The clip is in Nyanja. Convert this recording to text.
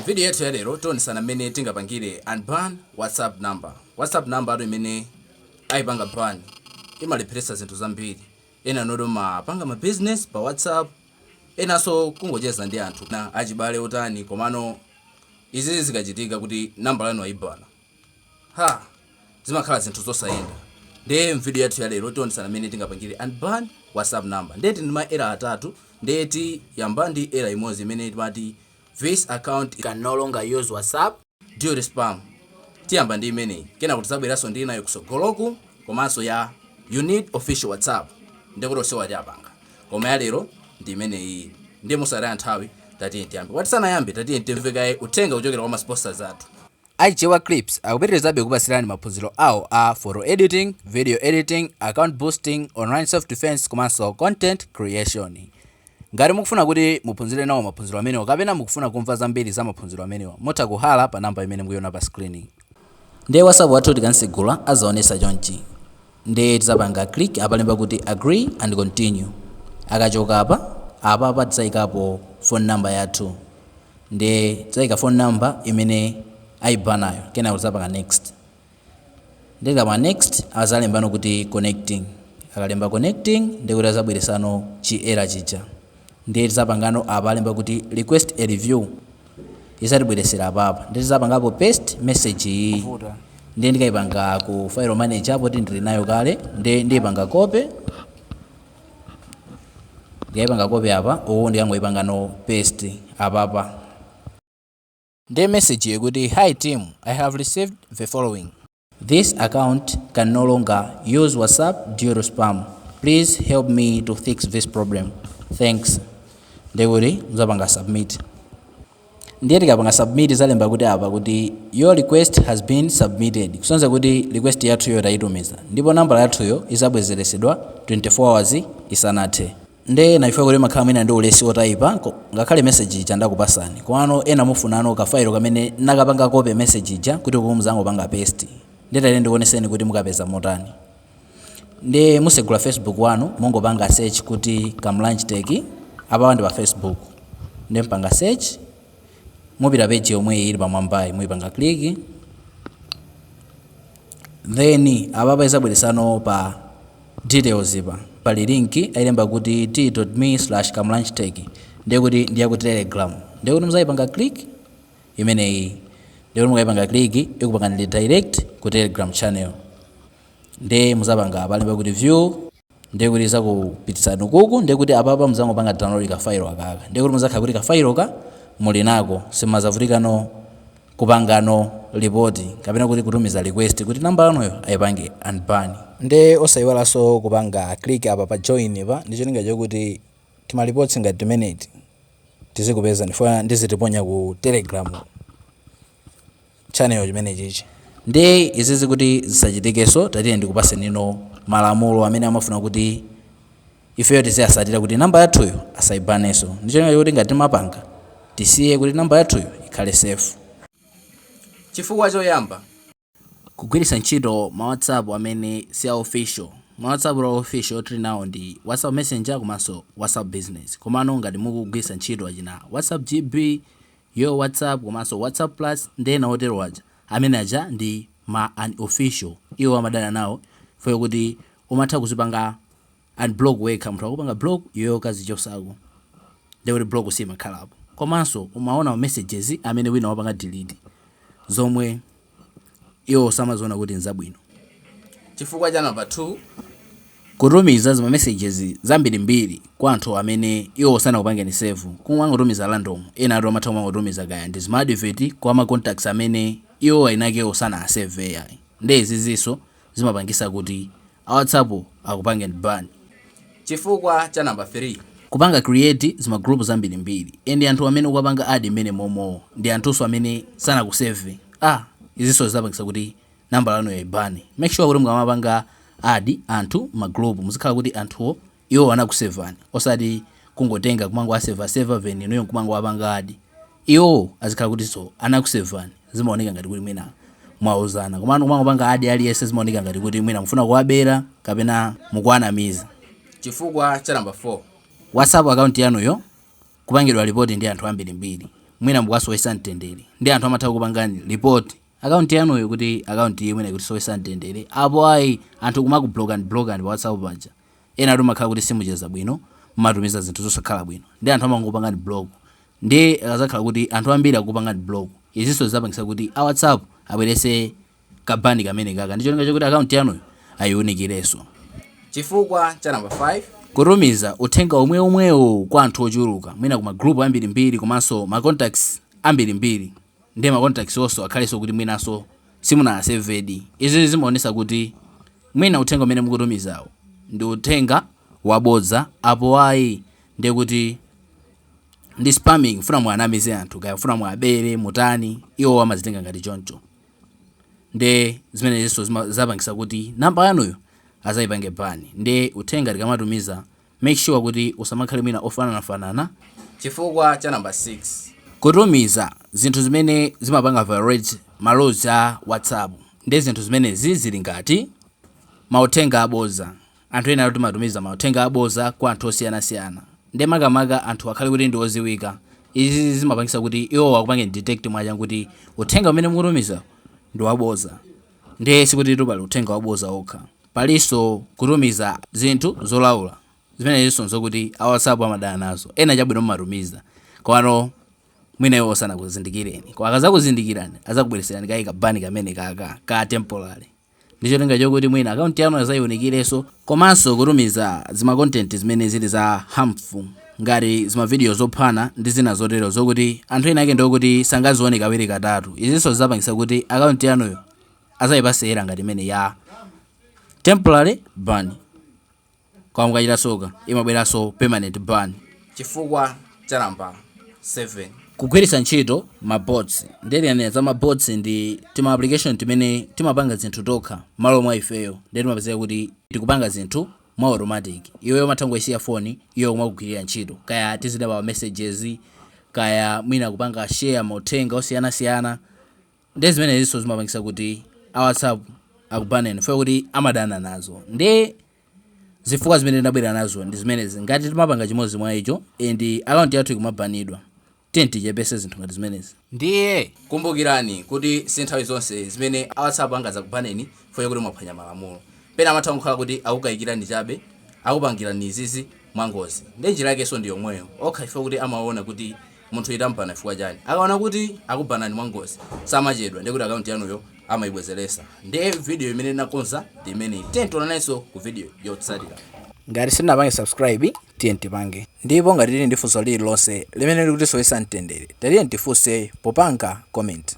Mvidiyo yathu ya lero tionesana mmene tingapangire unban whatsapp number. Whatsapp number yathu imene ayipanga ban imalepheretsa zinthu zambiri. Ena nonu mumapanga ma business pa whatsapp, enanso kungocheza ndi anthu na achibale otani komano izi zikachitika kuti nambala yanu ayibana zimakhala zinthu zosayenda ndiye mvidiyo yathu ya lero tionesana mmene tingapangire unban whatsapp number ndiye tili ndi ma error atatu ndiye tiyamba ndi error imodzi imene timati This account can no longer use WhatsApp due to spam. Tiyamba ndi imeneyi. Kenako tidzabweranso ndi inayo kutsogoloku komanso ya you need official WhatsApp. Ndikuti onsewa tiwapanga. Koma ya lero ndi imeneyi. Nde mosataya nthawi tatiyeni tiyambe. Koma tisanayambe tatiyeni timve kaye uthenga kuchokera kwa ma sponsors athu. A Chewa Clips akupitirizabe kukupatsirani maphunziro awo a Photo Editing, Video Editing, Account Boosting, Online Self Defense komanso Content Creation. Ngati mukufuna kuti muphunzire nawo maphunziro amenewa kapena mukufuna kumva zambiri za maphunziro amenewa, mutha kuhalla pa namba imene mukuiona pa screen. Ndiye WhatsApp wathu tikansegula azaonesa chonchi. nde tizapanga click apalemba kuti agree and continue akachoka apa apapa tizaikapo phone number yathu nde tizaika phone number imene aibanayo kenako tizapanga next nde tikapanga next azalembano kuti connecting akalemba connecting ndekuti azabweresanso chi error chija Ndiye tizapangano apa alemba kuti request a review izatibweresera apapa ndiye tizapangapo paste message iyi ndiye ndikaipanga ku file manager poti ndili nayo kale ndiye ndiyipanga copy ndiyipanga copy apa uwu ndikangoipangano paste apapa Nde message-yo ikuti Hi team, I have received the following. This account can no longer use WhatsApp due to spam. Please help me to fix this problem. Thanks. Nde kuti muzapanga submit. Ndiye tikapanga submit izalemba kuti apa kuti your request has been submitted. Kusonyeza kuti request yathuyo tayitumiza. Ndipo nambala yathuyo izabwezeresedwa 24 hours isanathe. Nde ena chifukwa choti mmakhala mwina ndi ulesi otaipa ngakhale message ija ndakupasani komano ena mufunano ka file kamene nnakapanga copy message ija kuti uku mzangopanga paste nde tati ndikuoneseni kuti mukapeza motani nde musegula facebook wanu mungopanga search kuti Kamlanje Tech apawa ndi pa facebook nde mpanga search mupita page yomweyi ili pamwambayi muipanga click then apapa izabweresano pa Details pa. Pali link ailemba kuti t.me slash kamlanjetech ndekuti ndi yaku telegram ndekuti muzaipanga click imeneyi ndekuti mukaipanga click ikupangani redirect ku telegram channel nde muzapanga apa alemba kuti view ndekuti izakupititsani ukuku ndekuti apapa muzangopanga download ka file akaka ndekuti muzakhala kuti ka file ka muli nako simazavutika no kupangano report kapena kuti kutumiza request kuti number yanuyo aipange unban. Nde osaiwalanso kupanga click apa pa join-pa ndicholinga chokuti tima reports ngati timeneti tizikupezani chifukwa ndizitiponya ku telegram channel chimene chichi. Nde izizi kuti zisachitikenso tatiyeni ndikupasenino malamulo amene amafuna kuti. ifeyo tiziasatira kuti number yathuyo asaibaneso ndi cholinga choti ngati timapanga tisiye kuti number yathuyo ikhale safe. Chifukwa choyamba. Kugwiritsa ntchito ma whatsapp amene si a official. Ma whatsapp a official omwe tili nawo ndi whatsapp messenger komanso whatsapp business komano ngati mukugwiritsa ntchito achina whatsapp GB, yo whatsapp komanso whatsapp plus ndi ena otero aja, amene aja ndi ma unofficial iwo amadana nawo chifukwa chokuti umatha kuzipanga unblock wekha munthu wakupanga block iweyo ukazichosako nde kuti block siimakhalapo komanso umaona ma messages amene wina wapanga delete zomwe iwo samaziona kuti nzabwino chifukwa cha number 2 kutumiza zima messages zambirimbiri kwa anthu amene iwo sanakupangeni save kumangotumiza random enatu amatha kumangotumiza kaya ndi zima advert kwa ma contacts amene iwo ainake sanaasave ai nde izizinso zimapangisa kuti a whatsapp akupangeni ban chifukwa cha number 3. Kupanga create zima group zambirimbiri and anthu amene ukuwapanga add mmenemomo ndi anthunso amene sanakusave izinso zizapangisa kuti number yanuyo aibane make sure kuti mukamapanga add anthu mma group muzikhala kuti anthuwo Iwo anakusevani osati kungotenga kumangowaseva seva then inuyo nkumangowapanga add. Iwo azikhala kutiso anakusevani zimaoneka ngati kuti mwina mwauzana komano kumangopanga add aliyense zimaoneka ngati kuti mwina mufuna kuwabera kapena mukuwanamiza. Chifukwa cha number 4. Whatsapp account yanuyo kupangidwa report ndi anthu ambirimbiri mwina mukuwasowesa mtendere nde anthu amatha kukupangani report account yanuyo kuti account iyi mwina ikutisowesa mtendere apo ayi anthu kumakublockani blockani pa whatsapp paja. enatu mmakhala kuti simucheza bwino mmatumiza zinthu zosakhala bwino nde anthu amangokupangani block nde akazakhala kuti anthu ambiri akukupangani block izinso zizapangisa kuti a whatsapp abwerese ka ban kamenekaka ndi cholinga chokuti account yanuyo ayiunikireso chifukwa cha number 5 kutumiza uthenga umwe umwewo kwa anthu ochuluka mwina ku ma group ambirimbiri komanso ma contacts ambirimbiri Ndiye ma contacts onso akhalenso kuti mwinanso simunawasevedi. Izizi zimaonesa kuti mwina uthenga umene mukutumizawo ndi uthenga wabodza apo ayi ndiye kuti ndi spamming kufuna muwanamize anthu kaya kufuna muwabere mutani iwowo amazitenga ngati choncho ndiye zimenezinso zima- zapangisa kuti namba yanuyo azayipange ban ndiye uthenga tikamatumiza Make sure kuti usamakhale mwina wofananafanana. Chifukwa cha number 6. Kutumiza zinthu zimene zimapanga violate ma laws a WhatsApp nde zinthu zimenezi zili ngati, Mauthenga aboza, anthu enatu timatumiza mauthenga aboza kwa anthu osiyanasiyana nde makamaka anthuwa akhale kuti ndi oziwika izizi zimapangisa kuti iwowo akupangeni detect mwachangu kuti uthenga umene mukutumizawu ndi waboza nde sikutitu pali uthenga waboza okha Palinso kutumiza zinthu zolaula. Zimenezinso n'zokuti a WhatsApp amadana nazo. Ena chabwino mumatumiza, komano mwina iwowo sanakuzindikireni. Koma akadzakuzindikirani adzakubweretserani kaye ka ban kamenekaka ka temporary ndi cholinga chokuti mwina akaunti yanu adzayiunikirenso. Komanso kutumiza zima content zimene zili za harmful ngati zimavidiyo zophana ndi zina zotero zokuti anthu ena ake ndi okuti sangazione kawiri katatu. Izinso zidzapangitsa kuti akaunti yanuyo. azayipase error ngati imene ya temporary ban koma mukachita soka imabweranso permanent ban chifukwa cha namba 7 kugwiritsa ntchito mabots nde tikanena za mabots ndi tima application timene timapanga zinthu tokha mmalo mwa ifeyo nde timapezeka kuti tikupanga zinthu mwa automatic iweyo umatha kungoyisiya foni iyo kumakugwirira ntchito kaya tiziyankha messages kaya mwina kupanga share mauthenga osiyanasiyana Ndiye zimeneziso zimapangisa kuti a whatsapp akubaneni chifukwa choti amadana nazo ndiye zifukwa zimene ndabwera nazo ndi zimenezi ngati timapanga chimodzi mwa izo and account yathu ikumabanidwa tiyeni tichepese zinthu ngati zimenezi ndiye kumbukirani kuti si nthawi zonse zimene a whatsapp angazakubaneni chifukwa choti mwaphwanya malamulo pena amatha kukhala kuti akukayikirani chabe akupangirani izizi mwangozi ndiye njira yakeso ndi yomweyo okha chifukwa kuti amaona kuti Munthu tamubana chifukwa chani? Akaona kuti akubanani mwa ngozi samachedwa ndiye kuti account yanuyo amaibwezelesa. Ndiye video imene ndinakonza ndi imeneyi. Tiyeni tionanenso ku video yotsatira. Ngati sitinapange subscribe tiyeni tipange. Ndipo ngati tili ndi funso lililonse limene likutisowesa mtendere tatiyeni tifunse popanga comment.